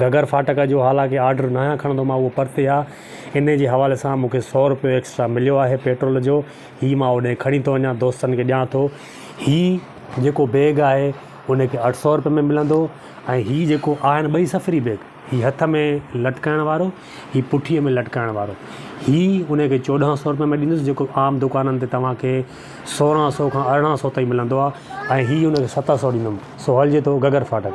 گھگھر ڦاٽڪ جو حالانڪه آرڊر ناهيان کڻندو مان اهو پرتي آ انهي جي حوالي سان مون کي سؤ رپيو ايڪسٽرا مليو آهي پيٽرول جو هي مان اوڏهين کڻي ٿو وڃان دوستن کي ڏيان ٿو هي جيڪو بيگ آهي انهي کي اٺ سؤ رپيو ۾ ملندو ۽ هي جيڪو آهن ٻئي سفري بيگ هي هٿ ۾ لٽڪائڻ وارو هي پٺي ۾ لٽڪائڻ وارو هي انهي کي چوڏهن سؤ رپيو ۾ ڏيندس جيڪو عام دڪانن تي توهان کي سورهن سؤ کان ارڙهن سؤ تائين ملندو آ ۽ هي انهي کي ست سؤ ڏيندم سو هلجي ٿو گھگھر ڦاٽڪ.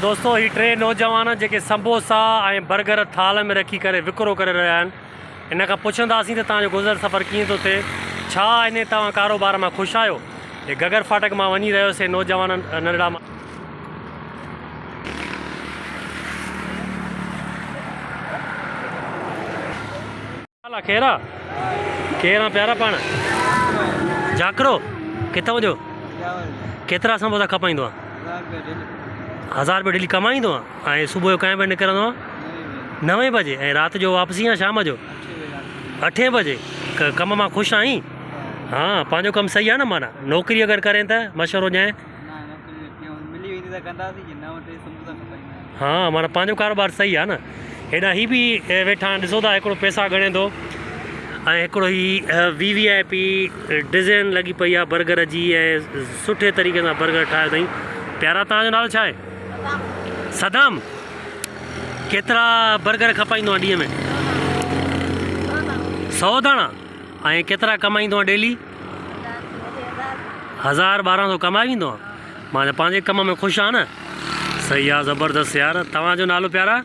دوستو هي ٽي نوجوان جيڪي سمبوسا ۽ برگر ٿال ۾ رکي ڪري وڪرو ڪري رهيا آهن. هن کان پڇنداسين ته توهان جو گذر سفر ڪيئن ٿو ٿئي؟ ڇا اڃي توهان ڪاروبار مان خوش آهيو؟ هي گگر ڦاٽڪ مان وڃي رهيو سي نوجوان ننڍڙا. ڇا حال آ کيرا؟ ڪير آن پيارا پاڻ؟ جاکرو، ڪٿان جو؟ ڪيترا سموسا کپائيندو آن؟ هزار روپيا ڊيلي ڪمائيندو آن؟ ۽ صبح جو ڪئين بجي نڪرندو آ نوين بجي ۽ رات جو واپسي آ شام جو اٺين بجي ڪم مان خوش آهين ها پنهنجو ڪم صحيح آ نه معنيٰ نوڪري اگر ڪرين ته مشورو ڏيانء ها معنيٰ پنهنجو ڪاروبار صحيح آ نه هيڏانهن هي به ويٺا آهن ڏسو ٿا هڪڙو پئسا ڳڻي ٿو ۽ هڪڙو هي V V I P design لڳي پئي آ برگر جي ۽ سٺي طريقي سان برگر ٺاهيو اٿئي پيارا تنهنجو نالو ڇا آهي صدام ڪيترا برگر کپائيندو آهين ڏينهن ۾ سؤ داڻا ۽ ڪيترا ڪمائيندو آهين ڊيلي هزار ٻارهن سؤ ڪمائي ويندو آهين معنی پنهنجي ڪم ۾ خوش آهي نه صحيح آ زبردست يار توهان جو نالو پيارا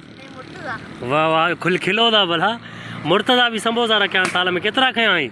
واهه واهه کل کلو ٿا ڀلا مرتضا به سمبوسا رکيا آهن ٿال ۾ ڪيترا کنيا آهين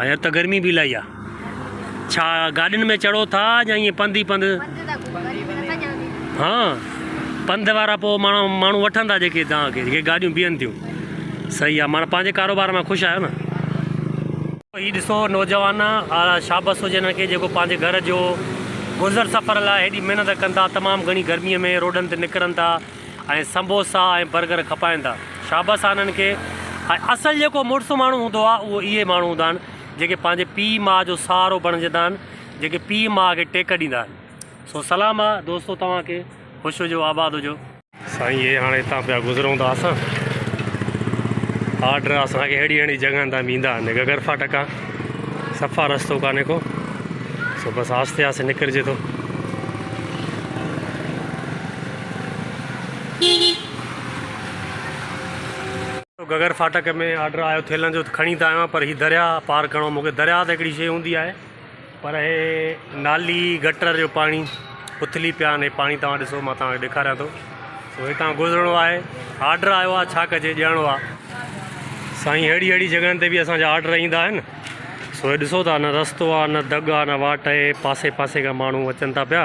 اڄ ته گرمي به الائي آ. ڇا گاڏين ۾ چڙهو ٿا يا ائين پنڌ ئي پنڌ؟ پنڌ ته ڪو وري به نٿا ڄاڻين. ها پنڌ وارا پو ماڻهو وٺن ٿا جيڪي توهان کي جيڪي گاڏيون بيهن ٿيون صحيح آ معنيٰ پنهنجي ڪاروبار مان خوش آهيو نه. هي ڏسو نوجوان آلا شابس هجي انهن کي جيڪو پنهنجي گهر جو گذر سفر لاء هيڏي محنت ڪن ٿا تمام گهڻي گرمي ۾ روڊن تي نڪرن ٿا. ۽ سمبوسا ۽ برگر کپائن ٿا. شابس آ انهن کي. هاء اصل جيڪو مڙس ماڻهو هوندو آ اهو اهي ماڻهو هوندا آهن جيڪي پنهنجي پيء ماء جو سهارو بڻجندا آهن جيڪي پيء ماء کي ٽيڪ ڏيندا آهن. سو سلام آ دوستو توهان کي. خوش هجو آباد هجو. سائين اهي هاڻي هتان پيا گذرون ته اسان آرڊر اسان کي اهڙي اهڙي جڳهن تان ويندا آهن گگر ڦاٽڪ آ صفا رستو ڪانهي ڪو سو بس آهستي آهستي نڪرجي ٿو. گھگھر فاٽڪ ۾ آرڊر آيو ٿيلھن جو ته کڻي ته آيو آھيان پر ھي درياء پار ڪرڻو مون کي درياء ته ھڪڙي شيء ھوندي آھي پر ھي نالي گٽر جو پاڻي اٿلي پيا آھن ھي پاڻي توھان ڏسو مان توھان کي ڏيکاريان ٿو سو ھتان گذرڻو آھي آرڊر آيو آھي ڇا ڪجي ڄڻو آھي سائين ھڙي ھڙي جڳھن تي به اسان جا آرڊر ايندا آھن سو ھي ڏسو ٿا نه رستو آھي نه دڳ آھي نه واٽ آھي پاسي پاسي کان ماڻھو اچن ٿا پيا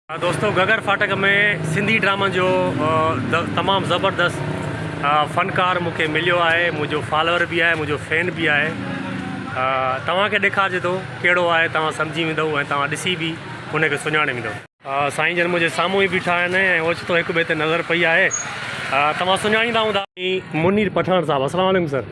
دوستو گگر ڦاٽڪ ۾ سنڌي ڊرامن جو تمام زبردست فنڪار مون کي مليو آهي منهنجو فالوور به آهي منهنجو فين به آهي توهان کي ڏيکارجي ٿو ڪهڙو آهي توهان سمجهي ويندو ۽ توهان ڏسي به ان کي سڃاڻي ويندو سائين جن منهنجي سامهون ئي بيٺا آهن ۽ اوچتو هڪ ٻئي تي نظر پئي آهي توهان سڃاڻيندا هوندا منير پٺاڻ صاحب السلام عليڪم سر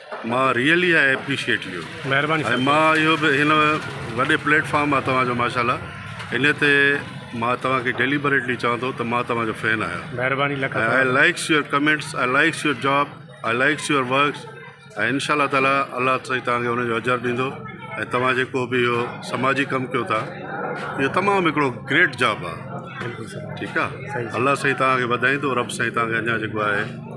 مان ريئلي آئي اپريشيئيٽ يو. مهرباني سر. ۽ مان اهو به هن وڏي پليٽ فارم آ توهان جو ماشاءالله انهي تي مان توهان کي ڊيليبريٽلي چوان ٿو ته مان توهان جو فين آهيان. مهرباني لک ۽ I likes your comments I likes your job I likes your works ۽ انشاء الله تعالي الله سائين توهان کي ان جو اجر ڏيندو ۽ توهان جيڪو به اهو سماجي ڪم ڪيو ٿا اهو تمام هڪڙو گريٽ جاب آ بلڪل سر ٺيڪ آ صحيح. الله سائين توهان کي وڌائيندو رب سائين توهان کي اڃا جيڪو آهي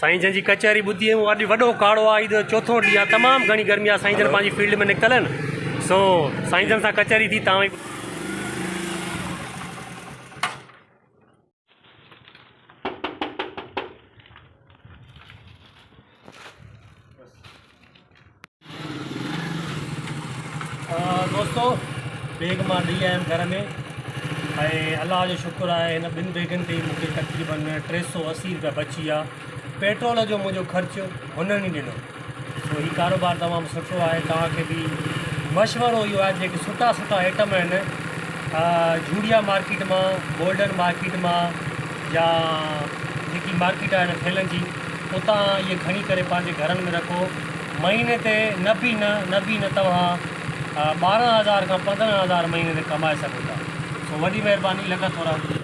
سائين جن جي ڪچهري ٻڌي هو اڄ وڏو ڪاڙو آ عيد چوٿو ڏينهن آ تمام گهڻي گرمي آ سائين جن پنهنجي فيلڊ ۾ نڪتل آهن سو سائين جن سان ڪچهري ٿي تان دوستو بيگ مان ڏئي آيم گهر ۾ ۽ الله جو شڪر آهي هن ٻن بيگن تي مون کي تقريبن ٽي سو اسي روپيا بچي ويا پيٽرول جو منهنجو خرچ هنن ئي ڏنو سو هي ڪاروبار تمام سٺو آهي توهان کي به مشورو اهو آهي جيڪي سٺا سٺا آئٽم آهن جھوڙيا مارڪيٽ مان گولڊن مارڪيٽ مان يا جيڪي مارڪيٽ آهن ٿيلهن جي اتان اهي کڻي ڪري پنهنجي گهرن ۾ رکو. مهيني تي نه به نه نه به نه توهان ٻارهن هزار کان پندرهن هزار مهيني تي ڪمائي سگهو ٿا. سو وڏي مهرباني لک ٿورا.